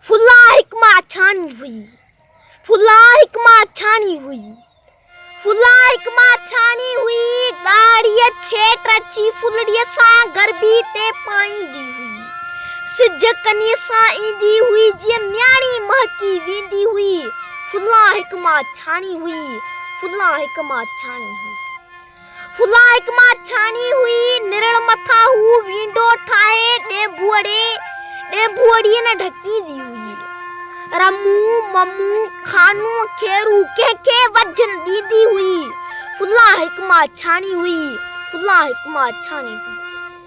فلان هڪ ماڇاڻي هئي. فلان هڪ ماڇاڻي هئي. فلان هڪ ماڇاڻي هئي. ڳاڙهيء ڇيٽ اچي ڦلڙيء سان گرڀي تي پائيندي هئي. سج ڪنيء سان ايندي هئي جيئن مياڻي مهڪي ويندي هئي. فلان هڪ ماڇاڻي هئي. فلان هڪ ماڇاڻي هئي. فلان هڪ مان ڇاڻي هئي نرڙ مٿان هو وينڊو ٺاهي ڏينڀوڙي ڏينڀوڙي نه ڍڪيندي هئي رمو ممو خانو کيرو ڪنهن کي وجهه نه ڏيندي هئي فلان هڪ مان ڇاڻي هئي فلان هڪ مان ڇاڻي هئي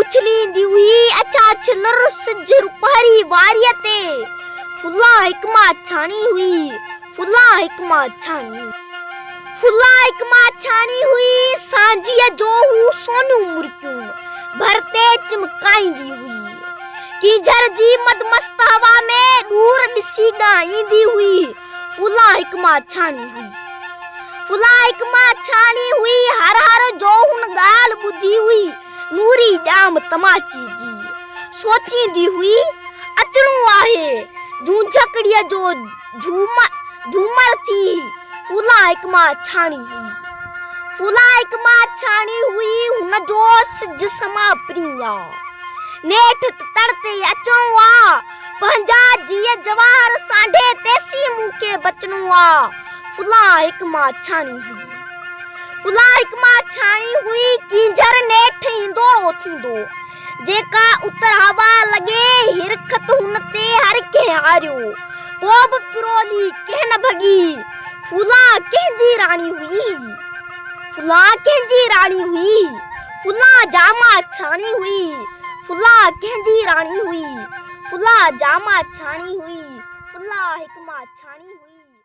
اڇليندي هئي اڇا ڇلر سج روپاري واريء تي فلا حڪما ڇاڻي هئي فلا حڪما ڇاڻي فلا حڪما ڇاڻي هئي سانجيء جو هو سونيون مرڪيون ڀر تي چمڪائيندي هئي ڪينجهر جي مدمست هوا ۾ ڏور ڏسي ڳائيندي هئي فلان هڪ ماڇاڻي هئي. فلان هڪ ماڇاڻي هئي. هر هر جو هن ڳالهه ٻڌي هئي. نوري ڄام تماچي جي سوچيندي هئي اچڻو آهي. جونجهڪڙيء جو جهومر ٿي. فلان هڪ ماڇاڻي هئي. فلان هڪ ماڇاڻي هئي. هن جو سج سما پرينء آ. نيٺ ته تڙ تي ئي اچڻو آ. پنهنجا جيء جواهر سانڍي تيسين مون کي بچڻو آ. فلان هڪ ماڇاڻي هئي. فلان هڪ ماڇاڻي هئي، ڪينجهر نيٺ ايندو اوٿيندو. جيڪا اتر هوا لڳي، هرخط هن تي هر ڪنهن هاريو. ڪو به پرولي ڪنهن نه ڀڳي. فلان ڪنهن جي راڻي هئي. فلان ڪنهن جي راڻي هئي. فلاڻ جامع ڇاڻي هئي. فلاڻ ڪنهن جي راڻي هئي. فلاڻ جامع ڇاڻي هئي. فلاڻ حڪمه ڇاڻي هئي.